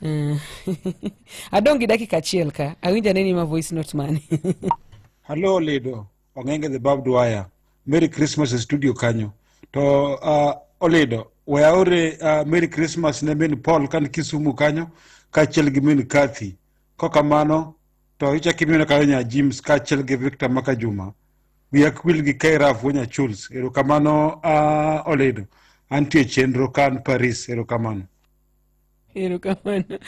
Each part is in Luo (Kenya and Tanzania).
Eh, adong' gi dakika achiel ka awinja neni ma voice note mane hallo olido ong'enge the barbed wire merry christmas e studio kanyo to uh, olido we aore uh, merry christmas ne min paul kan kisumu kanyo kaachiel gi min kathy kokamano to ichak imiona kanyo nya james kaachiel gi victor maka juma wiya kwil gi kairaf wonya chuls erokamano uh, olido antie chenro kan paris erokamano erokamano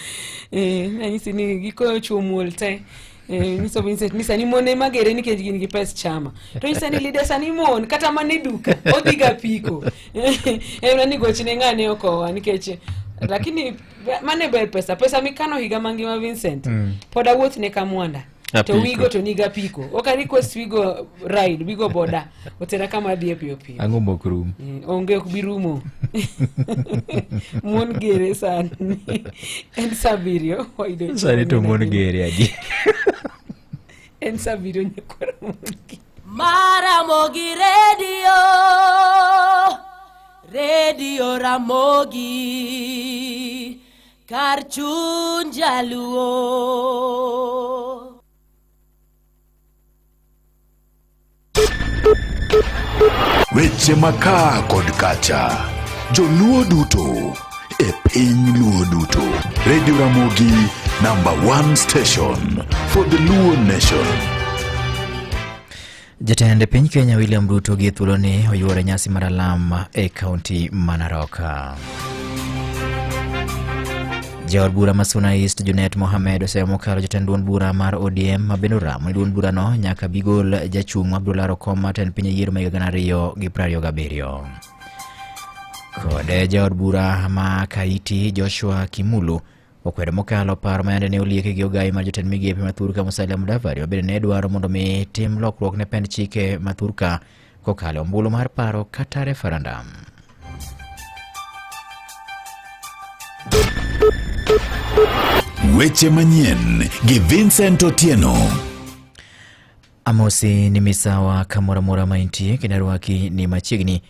eh, nanyisi ni gikoyo chuo muol te Eh, nyiso Vincent ni sani mon ema gere nikech gin gi pes chama to nyisa ni lida sani mon kata mana e duka odhiga piko emna ni gochne ng'ane okowa nikech lakini mane ber pesa pesa mikano higa mangima Vincent mm. pod awuothne ka mwanda to wigo to niga piko ok a request wigo ride wigo boda otera kama adhiye piyo piyo ang'o mok rum mm, onge ok bi rumo mon gere sani en sa abiriyo sani to mon gere adi en sa abiriyo nyakwara mon gere maramogi redio redio ramogi kar chuny jaluo weche makaa kod kacha joluo duto e piny luo duto redio ramogi number one station for the luo nation Jatend piny Kenya William Ruto gi thuoloni oyuore nyasi mar alam e kaunti ma Narok. Jaod bura ma Suna East Junet Mohamed oseo mokalo jatend duond bura mar ODM ma bende oramo ni duond burano nyaka bigol jachung' Abdullahi Okom ma tend piny e yiero ma higa gana ariyo gi piero ariyo gabiriyo. Kod jaod bura ma Kaiti Joshua Kimulu Okwedo mokalo paro ma yande ne olieki gi ogayi mar jotend migepe ma thurka Musalia Mudavadi ma bende ne dwaro mondo mi tim lokruok ne pend chike ma thurka kokalo ombulu mar paro kata referendum. Weche manyien gi Vincent Otieno. Amosi ni misawa kamoro amora ma intie, kendo arwaki ni machiegni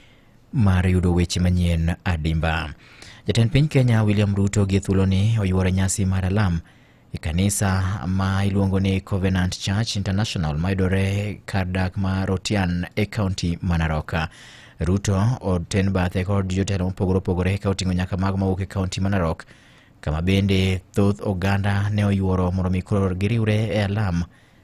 mar yudo weche manyien adimba. Jatend piny Kenya William Ruto gi thuloni oyuoro nyasi mar alam e kanisa ma iluongo ni Covenant Church International mayudore kar dak ma Rotian e kaunti ma Narok. Ruto oten bathe kod jotelo mopogore opogore ka oting'o nyaka mago mawuok e kaunti ma Narok kama bende thoth oganda ne oyuoro mondo mi koro giriwre e alam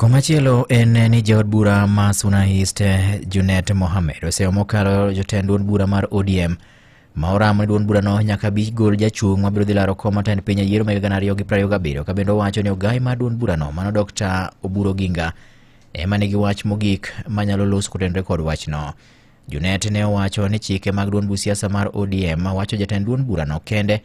Komachielo en ni jaod bura ma Suna East Junet Mohamed oseyo mokalo jotend duond bura mar ODM ma oramo ni duond burano nyaka bi gol jachung' ma biro dhi laro kom matend piny e yiero mag gana ariyo gi prariyo gabiriyo ka bende owacho ni ogai mar duond burano mano Dr. Oburu Oginga ema nigi wach mogik manyalo los kotenore kod wachno. Junet ne owacho ni chike mag duond bu siasa mar ODM wacho jatend duond burano kende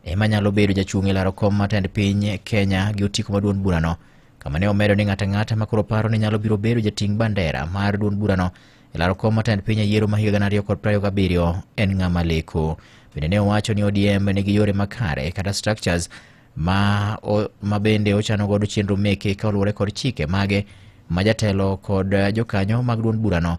ema nyalo bedo jachung' e laro kom mar tend piny Kenya gi otiko ma duond burano kama ne omedo ni ng'ato ang'ata ma koro paro ni nyalo biro bedo jating' bandera mar duond burano e laro kom mar tend piny e yiero ma higa gana ariyo kod piero ariyo gabiriyo en ng'ama leko. Bende ne owacho ni ODM nigi yore makare kata structures ma, o, ma bende ochano godo chenro meke ka oluwore kod chike mage ma jatelo kod jokanyo mag duond burano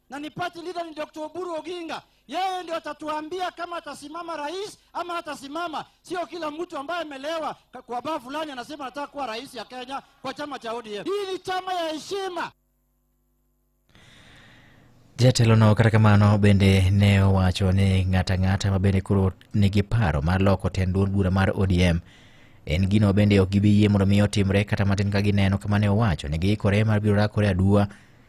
na ni party leader ni Dr. Oburu Oginga. Yeye ndio atatuambia kama atasimama rais ama hatasimama. Sio kila mtu ambaye amelewa ka- kwa baa fulani anasema anataka kuwa rais ya Kenya kwa chama cha ODM. Hii ni chama ya heshima. Jatelono kata kamano bende ne owacho ni ng'ata ng'ata ma bende koro nigi paro mar loko tend duond bura mar ODM en gino bende ok gibi yie mondo mi otimre kata matin ka gineno kama ne owacho ni giikore mar biro rakore aduwa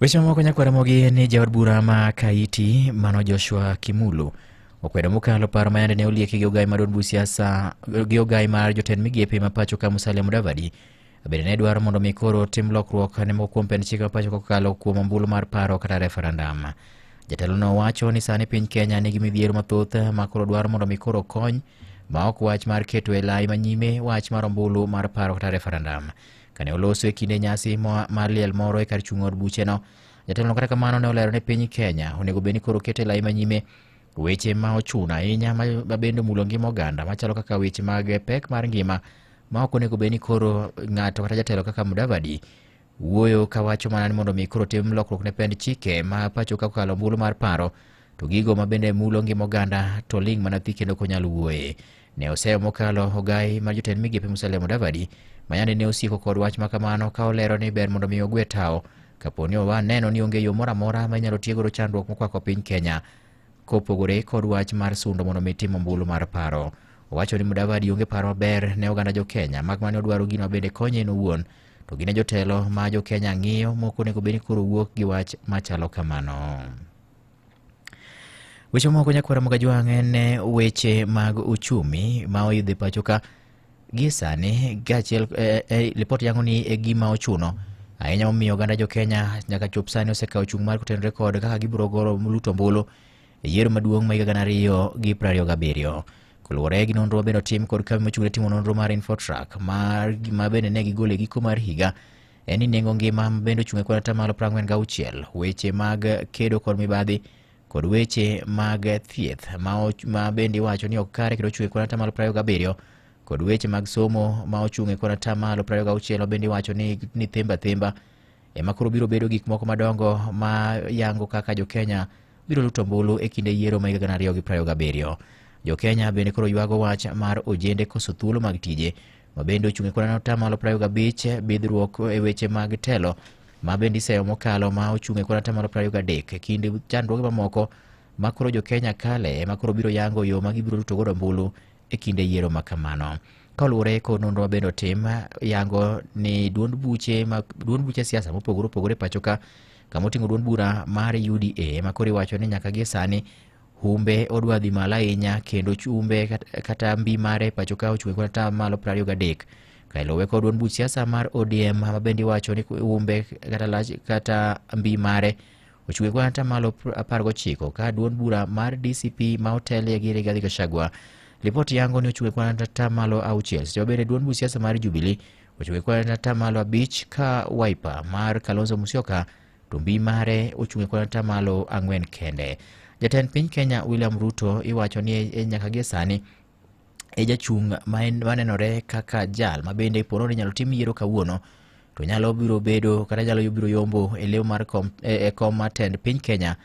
Weche mamoko nyakwaramogi ni jaod bura ma Kaiti mano Joshua Kimulu okwedo mokalo paro mayande ne olieki gi ogai mar od bu siasa gi ogai mar jotend migepe ma pacho ka Musalia Mudavadi bende ne dwaro mondo mi koro tim lokruok ne moko kuom pend chik ma pacho kokalo kuom ombulu mar paro kata referendum. Jatelono wacho ni sani piny Kenya nigi midhiero mathoth ma koro dwaro mondo mi koro kony ma ok wach mar keto e lai manyime wach mar ombulu mar paro kata referendum. Kane oloso e kinde nyasi mar liel moro e kar chung' od bucheno, jatelono kata kamano ne olero ne piny Kenya onego bed ni koro kete lai manyime weche ma ochuno ahinya ma bende omulo ngima oganda machalo kaka weche mag pek mar ngima ma ok onego bed ni koro ng'ato kata jatelo kaka Mudavadi wuoyo kawacho mana ni mondo mi koro tim lokruok ne pend chike ma pacho ka kokalo ombulu mar paro to gigo ma bende mulo ngima oganda to ling' mana thi kendo konyal wuoye. Ne oseyo mokalo ogai mar jotend migepe Musalia Mudavadi ma yande ne osiko kod wach ma kamano ka olero ni ber mondo mi ogwe tawo kapo ni owa neno ni onge yo moro amora ma inyalo tiegoro chandruok mokwako piny Kenya kopogore kod wach mar sundo mondo mi tim ombulu mar paro. Owacho ni Mudavadi onge paro maber ne oganda jo Kenya mak mane odwaro gino bende konye en owuon to gine jotelo ma jo Kenya ng'iyo moko onego bed ni koro wuok gi wach machalo kamano. Weche moko nyakwara Mugajwang' en eh, weche mag uchumi ma oyudhe pacho ka gie sani kaachiel eh, eh, lipot yango ni e gima ochuno ahinya momiyo oganda jo Kenya nyaka chop sani osekawo chung' mar kotenore kod kaka gibiro goro luto ombulu e yiero maduong' ma higa gana ariyo gi piero ariyo gabiriyo. Koluwore gi nonro mabende otim kod kambi mochung' ne timo nonro mar Infotrak mar ma bende ne gigolo e giko mar higa en ni nengo ngima bende ochung' e kod atamalo 46 weche mag kedo kod mibadhi kod weche mag thieth ma bende iwacho ni ok kare kendo ochung' e kod atamalo 27 kod weche mag somo ma ochung' e kod atamalo 26 bende iwacho ni, ni themba themba ema koro biro bedo gik moko madongo ma yango kaka jo Kenya biro luto ombulu e kinde yiero ma higa gana ariyo gi prario gabiriyo. Jo Kenya bende koro ywago wach mar ojende koso thuolo mag tije ma bende ochung' e kwan atamalo prariyo gabich bidhruok e weche mag telo ma bende iseyo mokalo ma ochung' e kwan atamalo prariyo gadek e kind chandruoge mamoko ma koro jo Kenya kale ema koro biro yango yo ma gibiro ruto godo ombulu e kinde yiero ma kamano kaluwore kod nonro ma bende otim yango ni duond buche ma duond buche siasa mopogore opogore pacho ka kama oting'o duond bura mar UDA ma koro iwacho ni nyaka gie sani humbe odwa dhi malo ahinya kendo chumbe kat- kata mbi mare pacho ka ochwe kod ata malo 23 kailowe kod duond buch siasa mar odm ma bende iwacho ni humbe kata lach kata mbi mare ochwe kod ata malo 19 ka duond bura mar dcp ma otelie gi rigathi gachagua ripot yango ni ochwe kod ata malo auchiel seche mabende duond buch siasa mar jubilee ochwe kod ata malo abich ka wiper mar kalonzo musyoka to mbi mare ochung' e kwan atamalo ang'wen kende. Jatend piny Kenya William Ruto iwacho ni e nyaka gie sani e jachung' manenore kaka jal ma bende poro ni nyalo tim yiero kawuono to nyalo biro bedo kata nyalo biro yombo e leo mar kom, e, e kom mar tend piny Kenya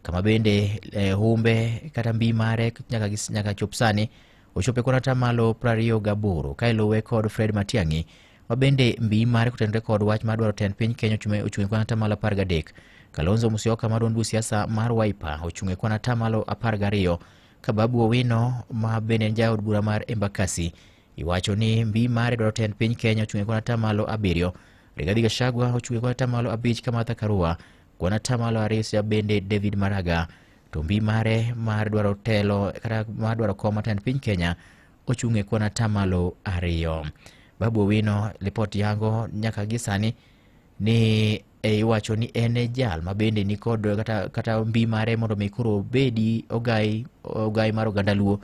kama bende eh, humbe kata mbi mare nyaka, nyaka chop sani ochope kuon atamalo prariyo gaboro ka iluwe kod Fred Matiang'i ma bende mbi mare kotenore kod wach mar dwaro tend piny Kenya ochung' e kuon atamalo apar gadek. Kalonzo Musyoka ma duond siasa mar Wiper ochung' e kuon atamalo apar gariyo ka Babu Owino ma bende en jaod bura mar Embakasi iwacho ni mbi mare dwaro tend piny Kenya ochung' e kuon atamalo abiriyo. Rigathi Gachagua ochung' e kuon atamalo abich ka Martha Karua Kuon atamalo arisa bende David Maraga to mbi mare mar dwaro telo kata mar dwaro kom matend piny Kenya ochung' e kuon atamalo ariyo. Babu Owino lipot yango nyaka gi sani ni e iwacho ni en e jal ma bende nikod kata, kata mbi mare mondo mi koro obedi ogai, ogai mar oganda luo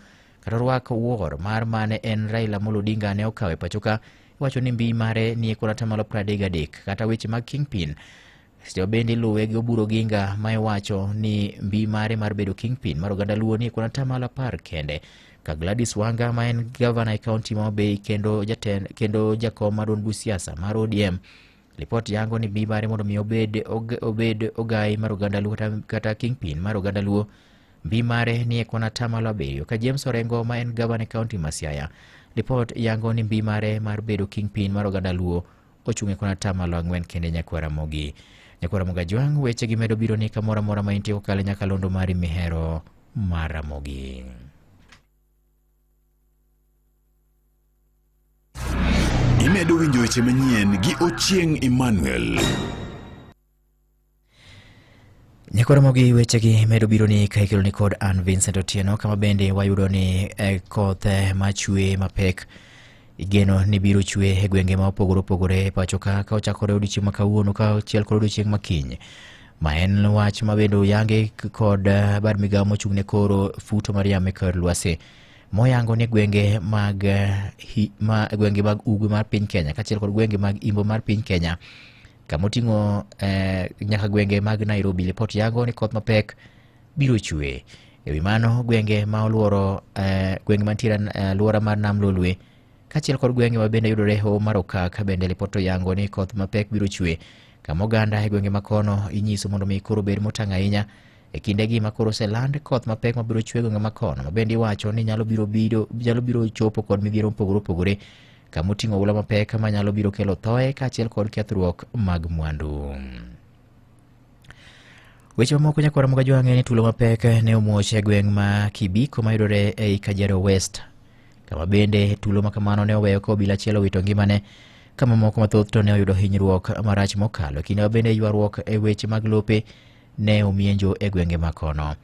kata orwak wuor mar mane en Raila Amolo Odinga ne okawe pachoka iwacho ni mbi mare ni e kuon atamalo 33 kata weche mag kingpin Sio bende iluwe gi Oburu Oginga ma iwacho ni mbi mare mar bedo kingpin mar oganda Luo ni kuna tamala par kende ka Gladys Wanga ma en gavana e kaunti ma Homa kendo jatend kendo jakom ma duond siasa mar ODM. Lipot yango ni mbi mare mondo mi obed obed ogai mar oganda Luo kata kingpin mar oganda Luo mbi mare ni e kuna tamala abiriyo ka James Orengo ma en gavana e kaunti ma Siaya. Lipot yango ni mbi mare mar bedo kingpin mar oganda Luo ochung' e kon atamalo ang'wen kende Nyakwar Ramogi. Nyakwar Ramogi Ajwang' weche gi medo biro ni kamoro amora ma intie kokalo e nyakalondo mari mihero mar Ramogi. Imedo winjo weche manyien gi Ochieng' Emmanuel. Nyakoromo gi wechegi medo biro ni ka ikelo ni kod an Vincent Otieno kama bende wayudo ni eh, koth eh, machwe mapek igeno ni biro chwe e gwenge ma opogore opogore e pacho ka ka ochakore odiochieng' ma kawuono ka achiel kod odiochieng' ma kiny ma en wach ma bende oyange k- kod eh, bad migawo mochung' ne koro futo mar yamo e kor lwasi moyango ni gwenge mag eh, hi- ma gwenge mag ugwe mar piny Kenya kaachiel kod gwenge mag imbo mar piny Kenya kama oting'o eh, nyaka gwenge mag Nairobi. Lipot yango ni koth mapek biro chue. E wi mano, gwenge ma oluoro eh, gwenge mantiere e alwora mar Nam Lolwe kaachiel kod gwenge ma bende yudore e hoho mar Okak bende lipot to yango ni koth mapek biro chue. Kama oganda e gwenge ma kono inyiso mondo mi koro obed motang' ahinya e kindegi ma koro oseland koth mapek ma biro chue e gwenge ma kono ma bende iwacho ni nyalo biro, biro, nyalo biro chopo kod midhiero mopogore opogore kama oting'o oula mapek manyalo biro kelo thoe kaachiel kod kethruok mag mwandu. Weche mamoko nyakwara moga jwang'e ni tulo mapek ne omuoch e gweng' ma Kibiko mayudore ei Kajiado West, kama bende tulo ma kamano ne oweyo ka obila achiel owito ngimane ka mamoko mathoth to ne oyudo hinyruok marach mokalo. Kinde ma bende ywaruok e weche mag lope ne omienjo e gwenge ma kono.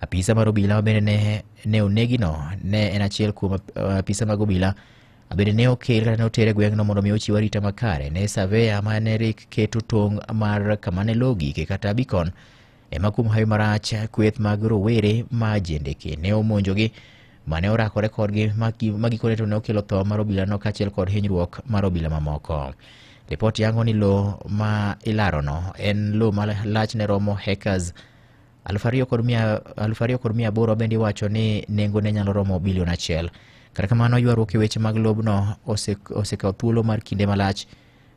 Apisa mar obila ma bende ne, ne onegino ne en achiel kuom uh, apisa mag obila Abende ne okel kata ne otere gweng'no mondo mi ochiw arita makare ne saveya ma ne rik keto tong' mar kama ne lowo gike kata bikon ema kuom hawi marach kweth mag rowere ma jendeke ne omonjogi ma ne orakore kodgi ma gi- ma gikone to ne okelo tho mar obilano kaachiel kod hinyruok mar obila mamoko. Ripot yango ni lowo ma ilarono en lowo ma lachne romo hectares Aluf ariyo kod mia aluf ariyo kod mia aboro bende iwacho ni nengone nyalo romo bilion achiel. Kata kamano, ywaruok e weche mag lobno ose- osekawo thuolo mar kinde malach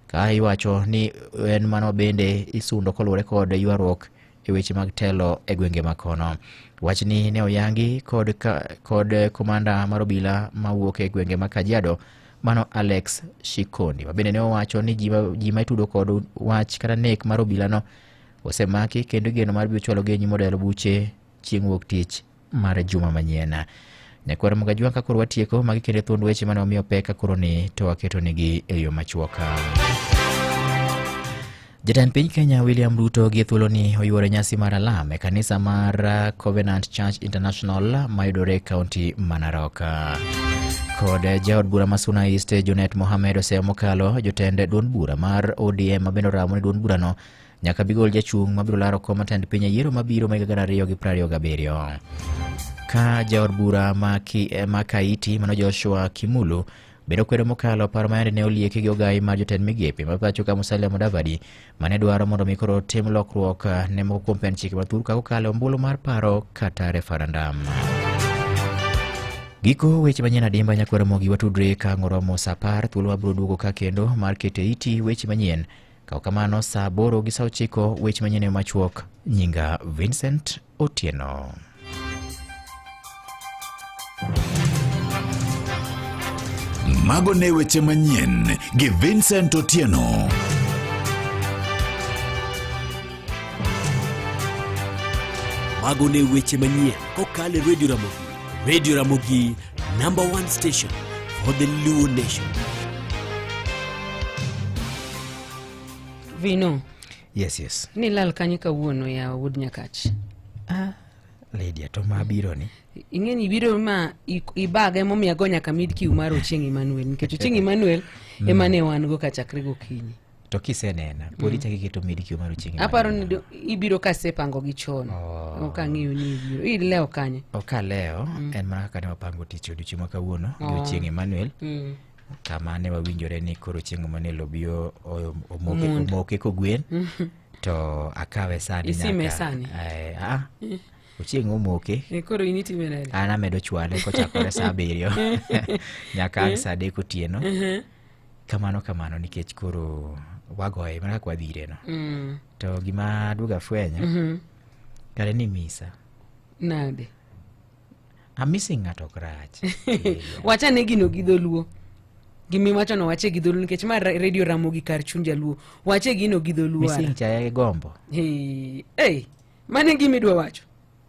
ka iwacho ni en mano bende isundo koluwore kod ywaruok e weche mag telo e gwenge ma kono. Wachni ne oyangi kod, ka, kod komanda mar obila mawuok e gwenge ma Kajiado mano Alex Shikondi ma bende ne owacho ni ji ma- ji ma itudo kod wach kata nek mar obilano osemaki kendo igeno mar biro chwalogi e nyim od yalo buche chieng' wuok tich mar juma manyien nyakwar mgajwa ka koro watieko magi kendo e thuond weche mane wamiyo pek ka koro ni to waketonigi e yo machuoka jatend piny kenya william ruto gi thuoloni oyuoro nyasi mar alam e kanisa mar uh, covenant church international mayudore e kaunti ma narok kod uh, jaod bura ma suna east junet mohamed oseyo mokalo jotend duond bura mar odm mabende oramo ni duond burano Nyaka bigol jachung' mabiro laro kom matend piny e yiero mabiro ma higa gana ariyo gi prariyo gabiriyo. Ka jaod bura ma, ki, eh, ma Kaiti mano Joshua Kimulu bedo kwedo mokalo paro ma yande ne olieki gi ogayi mar jotend migepe ma pacho ka Musalia Mudavadi mane dwaro mondo mi koro tim lokruok eh, ne moko kuom pend chike mathur ka kokalo e ombulu mar paro kata referendum. Giko weche manyien adimba nyakwara mogi watudre ka ngoromo sa apar thuolo wabiro duogo ka kendo mar kete iti weche manyien Kaw kamano saa aboro gi saa ochiko wech manyien e machuok. Nyinga Vincent Otieno. Mago ne weche manyien gi Vincent Otieno. Mago ne weche manyien kokalo e Radio Ramogi. Radio Ramogi, number one station for the Luo nation. Vino. Yes, yes. Ni lal kanye kawuono ya Wood Nyakach. Ah, lady atoma biro ni. Ing'eni ibiro ma ibaga emomiyo ago nyaka mid kiw mar Ochieng Emmanuel nikech Ochieng Emmanuel mm. emane wan go ka chakre gokinyi. to kisenena pod ichako iketo medikio mar ochieng aparo ni do- ibiro kasepango gi chon Oh. ok ang'eyo ni ibiro ilewo kanye okaleo en mana kaka ne wapango tich odiochieng' ma kawuono Oh. odiochieng' emmanuel Mm. kama ne wawinjore ni koro chieng' emmanuel obi o- o- omoke Mund. omoke kogwen to akawe sani Isime nyaka- sani? Eh, ah, ochieng' omoke Eh, koro in itime nade an amedo chwale kochakore saa abiriyo nyaka ang' saa adek otieno kamano kamano nikech koro wagoye mana kaka wadhi ireno Mm. to gima aduog afwenyo Mhm. kare ni misa Nade? amisi ng'ato ok rach Eh, wachane gino gi dholuo gimiwachono wache gi dholuo nikech ma ra- redio ramogi kar chuny jaluo wache gino gi dholuo missing chaya gi gombo Hey, hey, Mano e gima idwa wacho?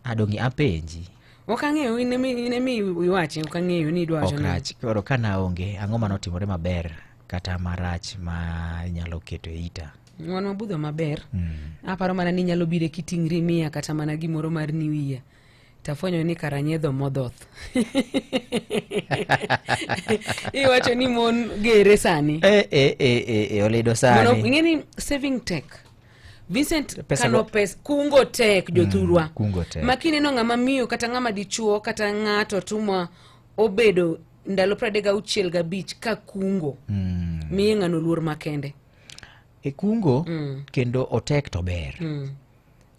Adongi apenji. Ok ang'eyo in emi in emi iwache ok ang'eyo ni idwa wacho Ok nang'o. rach. Koro ka naonge, ang'o ma notimore maber kata marach ma inyalo keto e ita? Wan mabudho maber. Aparo mana ni nyalo bire kiting'ri miya kata mana gimoro mar new year. Tafwenyo ni kara nyedho modhoth. Iwacho ni mon gere sani. Eh, eh, eh, eh, eh, olido Mondo sani. ing'e ni saving tech Vincent pesa kano pes kungo tek mm, jothurwa mm, kungo tek makini no ng'ama miyo kata ng'ama dichuo kata ng'ato tumwa obedo ndalo pradek gauchiel gabich ka kungo mm. miye ng'ano luor makende e kungo mm. kendo otek to ber mm.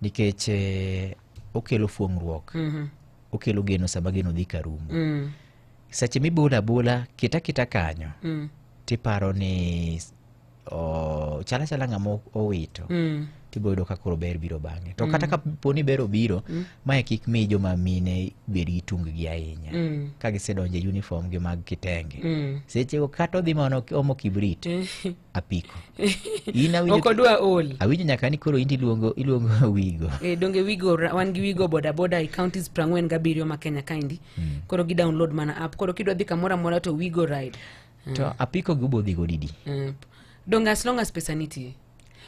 nikech eh, okelo fuong'ruok mm -hmm. okelo geno sama geno dhi ka rumo mm. seche mibola bola kita kita kanyo mm. tiparo ni o- chal achala ng'ama o- owito Mm. tibo yudo ka koro ber biro bang'e to kata ka po ni ber obiro mae kik mi joma mine bed gi tunggi ahinya Mm. ka gisedonjo e uniform gi mag kitenge Mm. sechego kata odhi mana ok- omo kibrit apiko in awinjo ok odwa ol awinjo nyaka ni koro in iluongo iluongo wigo Eh, donge wigo ra- wan gi wigo bodaboda e counties prang'wen gabiriyo ma kenya kaendi koro gi download mana app koro kidwa dhi kamoro amora to wigo ride to apiko gi ubodhi go didi Eh, donge as long as pesa nitie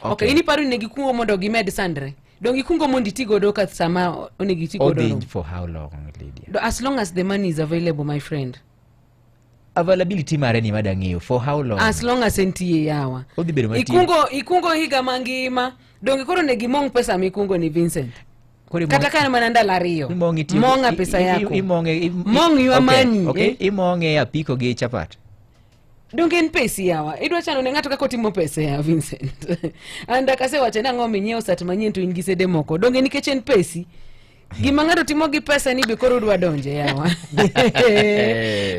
Okay. okay in iparo ni ne gikungo mondo gimed sandre donge ikungo mondo iti godo ka sama o- onego iti godo odhi no? for how long lydia Do- as long as the money is available my friend availability mare ni mada ng'eyo for how long as long as entie yawa Odhi bedo matin. ikungo ikungo higa mangima donge koro ne gimong pesa mikungo ni vincent kata ka en mana ndalo ariyo mong'a pesa yako mong' ywa mani okay. eh? imong'e apiko gi chapat donge en pesi yawa idwa chano ne ng'ato kaka otimo pesa ya vincent and akasewacho ni ang'o minyiewo sat manyien to in gi sede moko donge nikech en pesi gima ng'ato timo gi pesa ni be koro udwa donje yawa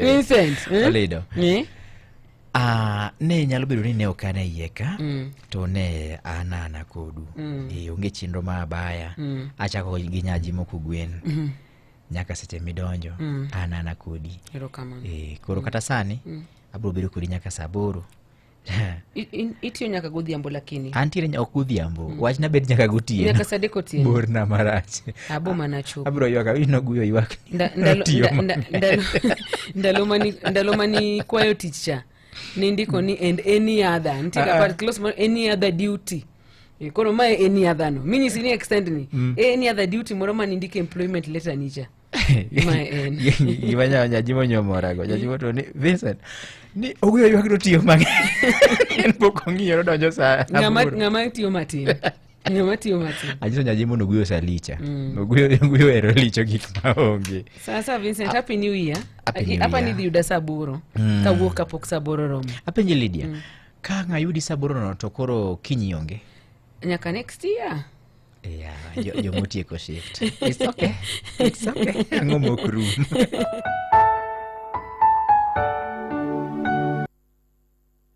vincent eh? eh? Ah, ne nyalo bedo ni ne ok an e iye ka Mm. to ne an ana kodu Mm. e, onge chenro ma abaya Mm. achako gi nyaji moko gwen Mhm. nyaka seche midonjo Mm. an ana kodi Erokamano. e, koro kata sani Mm. abiro bedo kodi nyaka saa aboro I- in- Itiyo nyaka godhiambo lakini. antiere nya- ok godhiambo Mm. wachna bed nyaka gotieno Nyaka saa adek otieno. borna marach Abo mana chopo. abiro ywaka ino guyo ywak Nda- ndalo- Tiyo nda- nda- ndalo- ndalo mani- ndalo mani kwayo tich cha nindiko ni and any other nitie Ah, ah. kapar close mar any other duty Eh, koro mae any other no minyisi ni extend ni any other duty moro ma nindiko employment letter ni cha Ma en. gima nya- nyajimo nyomorago nyajimo to ni vincent ni owuyo ywak to tiyo mang'eny en pok ong'iyo nodonjo sa ng'ama aboro. ng'ama tiyo matin Matio, Matio. Ajiso nyajimo nuguyo salicha. Mm. Nuguyo nuguyo ero licho gik maonge. Sasa Vincent, happy new year. Hapa ni yuda saburo. Mm. Kawuok kapok saburo romo. Apenje Lydia. Mm. Ka ng'ayudi saburo no to koro kinyi onge. Nyaka next year. Yeah, yo, yo motieko shift. It's okay. It's okay. Ang'o mok room.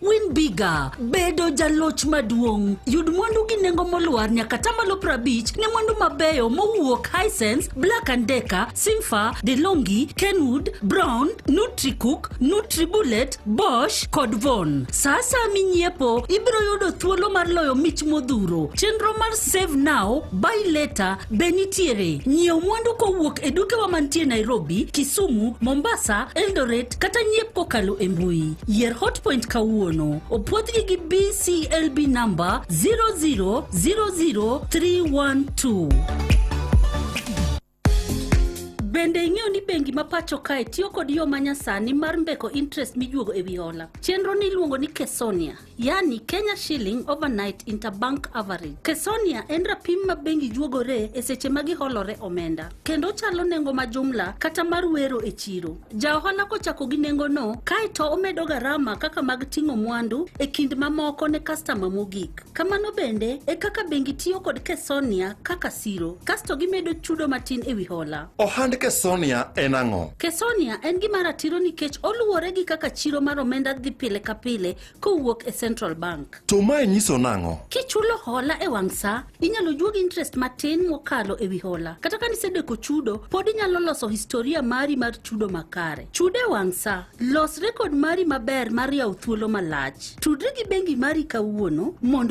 Win Bigger, bedo jaloch maduong'. Yud mwandu gi nengo molwar nyaka tamalo prabich ne mwandu mabeyo mowuok Hisense, Black and Decker, Simfa, DeLonghi, Kenwood, Brown, Nutricook, Nutribullet, Bosch kod Von. Sa asaya minyiepo, ibiro yudo thuolo mar loyo mich modhuro. Chenro mar Save Now, Buy Later be nitiere. Nyiew mwandu kowuok e dukewa mantie Nairobi, Kisumu, Mombasa, Eldoret, Connect kata nyiep kokalo e mbui. Yier Hotpoint kawuono. Opwodhgi gi BCLB number 0000312. Bende ing'eyo ni bengi ma pacho kae tiyo kod yo ma nyasani mar mbeko interest mijuogo e wi hola. Chenro ni iluongo ni Kesonia. yani Kenya shilling overnight interbank average. Kesonia en rapim ma bengi juogore e seche ma giholore omenda, kendo chalo nengo ma jumla kata mar wero e chiro. Ja ohala kochako gi nengo no, kaeto omedo garama kaka mag ting'o mwandu e kind mamoko ne kastama mogik. Kamano bende e kaka bengi tiyo kod Kesonia kaka siro, kasto gimedo chudo matin e wi hola. Ohand Kesonia en ang'o? Kesonia en gima ratiro nikech oluwore gi kaka chiro mar omenda dhi pile ka pile kowuok e Central Bank. To mae nyiso nang'o? Kichulo hola e wang' sa, inyalo juog interest matin mokalo e wi hola. Kata ka nisedeko chudo, pod inyalo loso historia mari mar chudo makare. Chudo e wang' sa, los rekod mari maber mar yawo thuolo malach. Tudri gi bengi mari kawuono mondo